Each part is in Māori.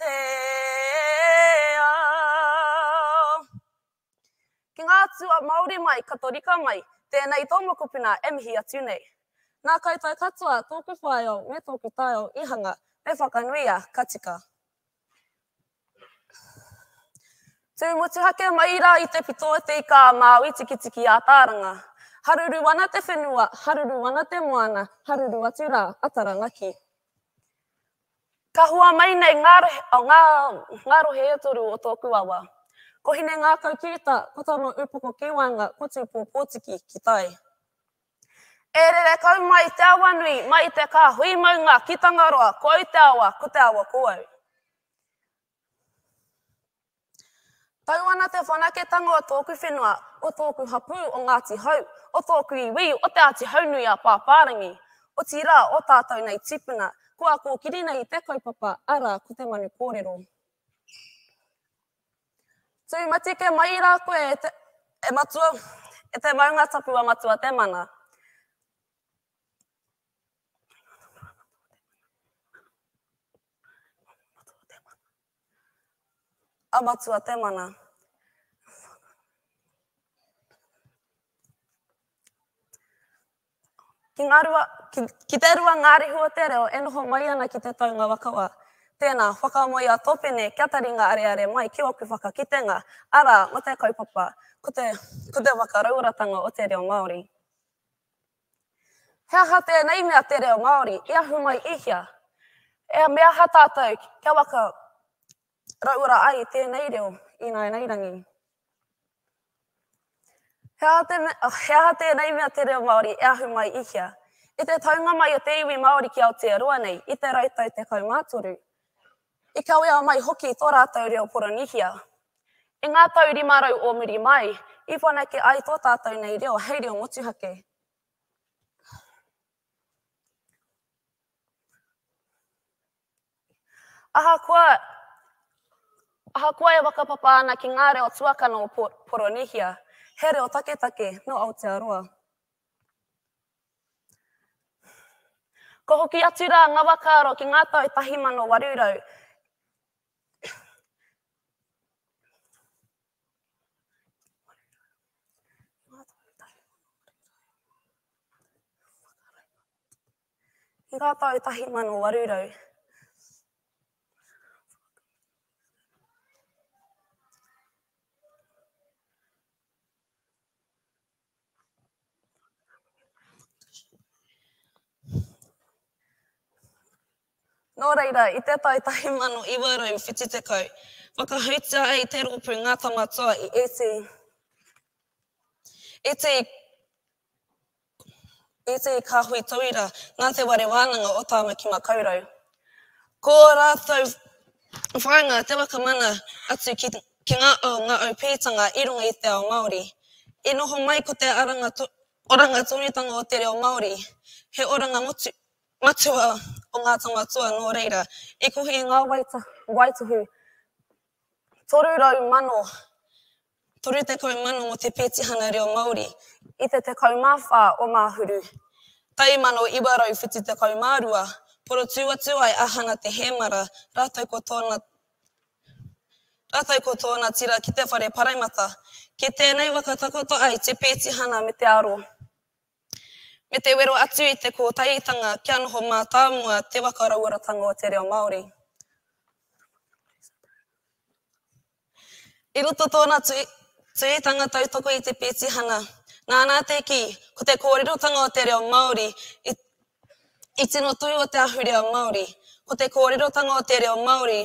te ao. Ki ngā atua Māori mai, Katorika mai, tēnei tō mokopuna e mihi atu nei. Nā koutou katoa tōku whāeo me tōku taeo i hanga, me whakanuia, ka tika. Tū motuhake mai rā i te pito o te ika a Māui Tikitiki Ātaaranga. Haruru ana te whenua, haruru ana te moana, haruru atu rā a Taranaki. Ka hua mai nei ngā rohe e toru o tōku awa. Ko Hine Ngākau Kīta, ko Tama Upoko Kīwaenga, ko Tūpō Pōtiki ki tai. E rere kau mai te awa nui, mai te kāhui maunga ki Tangaroa, ko au te awa, ko te awa ko au. Tau ana te whanaketanga o tōku whenua, o tōku hapū o Ngāti Hau, o tōku iwi o Te Āti Haunui-a-Pāpārangi, otirā o tātou nei tīpuna, kua kōkiri nei i te kaupapa, arā, ko te manu kōrero. Tū matike mai rā koe e te, e matua, e te maunga tapu a Matua Te Mana. A Matua te mana. Ki, ngā rua, ki, ki te rua ngā rehu o te reo e noho mai ana ki te taunga wakawa. Tēnā, whakamoe a Topene kia taringa areare mai ki ōku whakakitenga, arā, mō te kaupapa, ko te, ko te whakarauoratanga o te reo Māori. He aha tēnei mea te reo Māori i ahu mai i hea? E me aha tātou kia waka rauora ai tēnei reo i nāinairangi? He aha, te, oh, he aha tēnei mea te reo Māori e ahu mai i hea? I te taunga mai o te iwi Māori ki Aotearoa nei i te rautau 13, I kawea mai hoki tō rātou reo Poronīhia. I ngā tau rima rau o muri mai, i whanake ai tō tātou nei reo hei reo motuhake. Ahakoa, ahakoa e whakapapa ana ki ngā reo tuakana o Poronīhia, he reo taketake nō Aotearoa. Ka hoki atu rā ngā wakaaro ki ngā tau 1800. Ki ngā tau 1800. Nō reira, i te tau 1970, whakahoutia ai te rōpū Ngā Tamatoa i ētahi, ētahi I te kāhui tauira, nā Te Ware Wānanga o Tāmaki Makaurau. Ko ō rātou whāinga te waka mana atu ki ngā ao ngaau pītanga i runga i te ao Māori. I noho mai ko te aranga oranga tonutanga o te reo Māori, he oranga motu matua o ngā tama toa nō reira i kohi i ngā waitohu 300 mano 30,000 o te Petihana Reo Māori i te 14 o Ngāhuru, tau 1972, porotū atu ai a Hana Te Hēmara rātou ko tōna rātou ko tōna tira ki te whare Paraimata. Ki tēnei waka takoto ai te Petihana me te aro, me te wero atu i te kōtaihitanga kia noho mātāmua te waka rauoratanga o te reo Māori. I roto tōna tuitanga tautoko i te pētihana, nāna te kī, ko te kōrerotanga o te reo Māori i tino tū o te ahurea Māori, ko te kōrerotanga o te reo Māori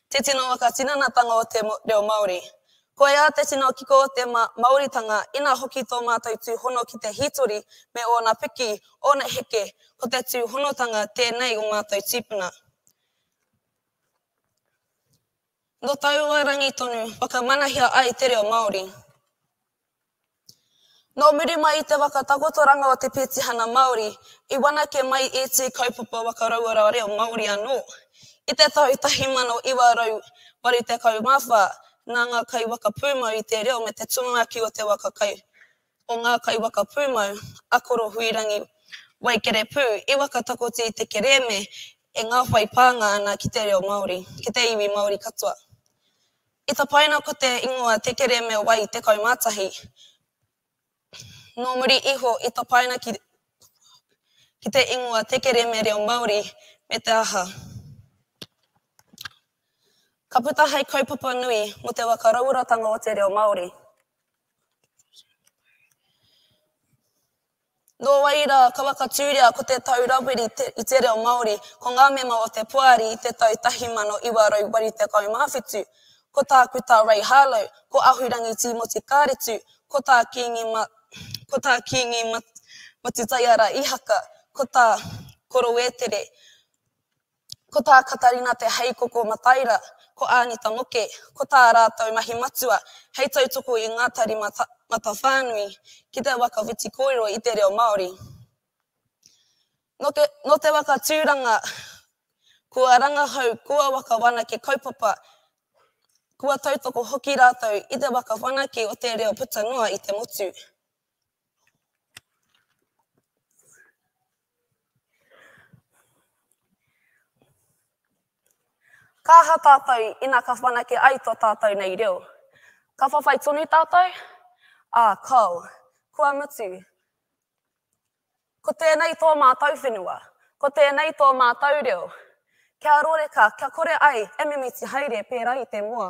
te tino whakatinanatanga o te reo Māori. Koiā te tino kiko o te Māoritanga, ina hoki tō mātou tūhono ki te hītori me ōna piki, ōna heke, ko te tūhonotanga tēnei o mātou tīpuna. Nō taua rangi tonu whakamanahia ai te reo Māori. Nō muri mai i te waka takotoranga o te petihana Māori i whanake mai ētahi kaupapa waka rauora reo Māori anō. I te tau 1984, nā ngā kaiwaka pūmau i te reo me te tumuaki o te waka kai o ngā kaiwaka pūmau, akoro huirangi, waikerepū, i whakatakoti i te kerēme e ngā whai pānga ana ki te reo Māori, ki te iwi Māori katoa. I tapaina ko te ingoa Te Kerēme Wai 11. Nō muri iho i tapaina ki ki te ingoa Te Kerēme Reo Māori me te aha. Ka puta hei kaupapa nui mō te whakarauoratanga o te reo Māori. Nō wai rā, ka whakatūria ko Te Tau Rawiri te, i te reo Māori, ko ngā mema o te Poari i te tau 1987. Ko Tākuta Ray Harlow, ko Ahurangi Tīmoti Kāretu, ko tā Kīngi Ma, ko tā Kīngi Ma, Matutaiara Ihaka, ko tā Korowētere, Ko tā Katarina Te Heikoko Mataira, ko Anita Moke, ko tā rātou mahi matua hei tautoko i ngā tari matawhānui ki te waka whiti kōrero i te reo Māori. Nō te waka tūranga kua rangahau, kua waka whanake kaupapa, kua tautoko hoki rātou i te waka whanake o te reo puta noa i te motu. Ka aha tātou ina ka whanake ai tō tātou nei reo? Ka whawhai tonu tātou? Ā, kāo. Kua mutu. Ko tēnei tō mātou whenua. Ko tēnei tō mātou reo. Kia rōreka, kia kore ai e mimiti haere pērā i te moa.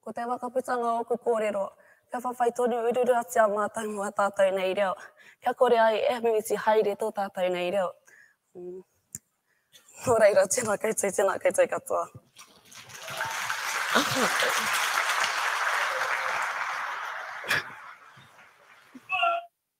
Ko te waka puta ngā ōku kōrero, kia whawhai tonu ururuatia mātou mō ā tātou nei reo, kia kore ai e mimiti haere tō tātou nei reo. Nō reira, tēnā koutou, tēnā koutou katoa.